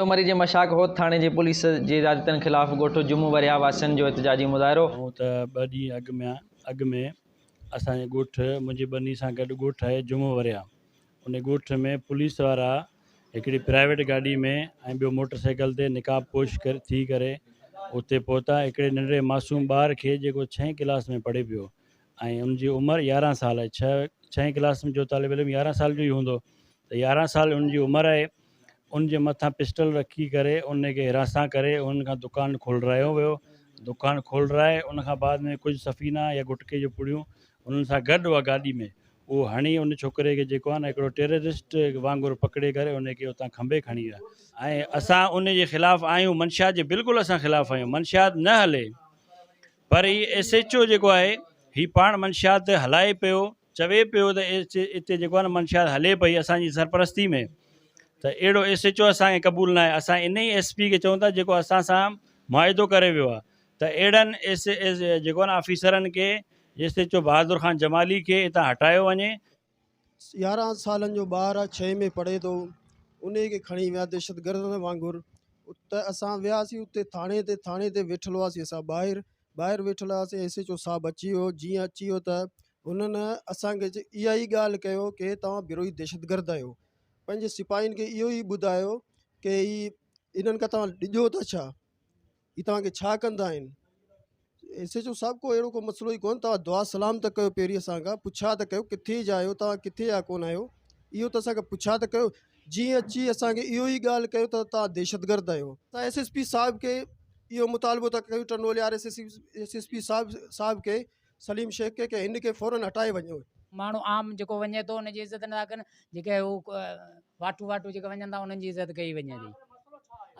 سومري جي مشاڪ هوت ٿاڻي جي پوليس جي زيادتين خلاف ڳوٺ جمون ورهيا واسين جو احتجاجي مظاهرو. هونء ته ٻه ڏينهن اڳ ۾ اڳ ۾ اسان جي ڳوٺ منهنجي ٻني سان گڏ ڳوٺ آهي جمون ورهيا ان ڳوٺ ۾ پوليس وارا هڪڙي پرائيويٽ گاڏي ۾ ۽ ٻيو موٽر سائيڪل تي نقاب پوش ٿي ڪري اتي پهتا هڪڙي ننڍڙي معصوم ٻار کي جيڪو ڇهين ڪلاس ۾ پڙهي پيو ۽ ان جي عمر يارهن سال آهي ڇهه ڇهين ڪلاس ۾ جو طالب علم يارهن سال جو ئي هوندو ته يارهن سال ان جي عمر آهي ان جي مٿان پسٽل رکي ڪري ان کي حراسان ڪري ان کان دڪان کولرايو ويو دڪان کولرائي ان کان بعد ۾ ڪجهه سفينا يا گٽڪي جون پڙيون انهن سان گڏ اها گاڏي ۾ اهو هڻي ان ڇوڪري کي جيڪو آهي نه هڪڙو ٽيررسٽ وانگر پڪڙي ڪري ان کي اتان کنڀي کڻي ويا ۽ اسان ان جي خلاف آهيون منشيات جي بلڪل اسان خلاف آهيون منشيات نه هلي پر هي ايس ايڇ او جيڪو آهي هي پاڻ منشيات هلائي پيو چوي پيو ته اتي جيڪو آهي نه منشيات هلي پئي اسان جي سرپرستي ۾ ته اهڙو ايس ايڇ او اسان کي قبول ناهي اسان ان ئي ايس پي کي چئون ٿا جيڪو اسان سان معاهدو ڪري ويو آهي ته اهڙن ايس جيڪو آهي نه آفيسرن کي S H O Bahadur Khan Jamali کي اتان هٽايو وڃي يارهن سالن جو ٻار آ ڇهين ۾ پڙهي ٿو انهي کي کڻي ويا دهشتگردن وانگر ته اسان وياسين اتي ٿاڻي تي ٿاڻي تي ويٺل هئاسين اسان ٻاهر ٻاهر ويٺل هئاسين ايس ايچ او صاحب اچي ويو جيئن اچي ويو ته هنن اسان کي اها ئي ڳالهه ڪيو ڪي توهان بروهي دهشتگرد آهيو پنهنجي سپاهين کي اهو ئي ٻڌايو ڪي هي انهن کان توهان ڊڄو ٿا ڇا هي توهان کي ڇا ڪندا آهن؟ ايس ايڇ او صاحب ڪو اهڙو ڪو مسئلو ئي ڪونه توهان دعا سلام ته ڪيو پيري اسان کان پڇا ته ڪيو ڪٿي جا آهيو توهان ڪٿي جا ڪونه آهيو اهو ته اسان کي پڇا ته ڪيو جي اچي اسان کي اهو ئي ڳالهه ڪيو ته توهان دهشت گرد آهيو ته ايس ايس پي صاحب کي اهو مطالبو ته ڪيو ٽنڊو ليار ايس ايس پي صاحب صاحب کي سليم شيخ کي ڪي هن کي فورن هٽائي وڃو. ماڻهو عام جيڪو وڃي ٿو ان جي عزت نٿا ڪن جيڪي هو واٽو واٽو جيڪي وڃن ٿا انهن جي عزت ڪئي وڃي ٿي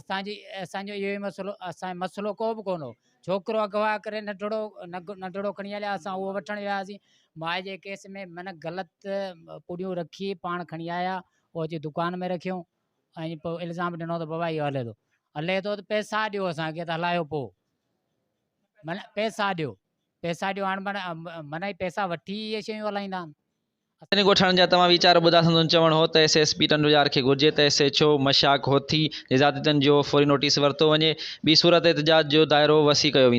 اسان جي اسان جو اهو ئي مسئلو اسان مسئلو ڪو به ڪونه ڇوڪرو اغوا ڪري ننڍڙو ننڍڙو کڻي هليا اسان اهو وٺڻ وياسين مائي جي ڪيس ۾ من غلط پوڙيون رکي پاڻ کڻي آيا اهو اچي دڪان ۾ رکيو ۽ پوء الزام ڏنو ته بابا اهو هلي ٿو هلي ٿو ته پيسا ڏيو اسانکي ته هلايو پوء من پيسا ڏيو پئسا ڏيو هاڻ من اهي پئسا وٺي ئي اهي شيون هلائيندا آهن. سنڌ ڳوٺاڻن جا توهان ويچار ٻڌا سندن چوڻ هو ته ايس ايس پي ٽنڊو يار کي گهرجي ته ايس ايڇ او مشاڪ هوٿي جي زيادتين جو فوري نوٽيس ورتو وڃي ٻي صورت احتجاج جو دائرو وسيع ڪيو ويندو.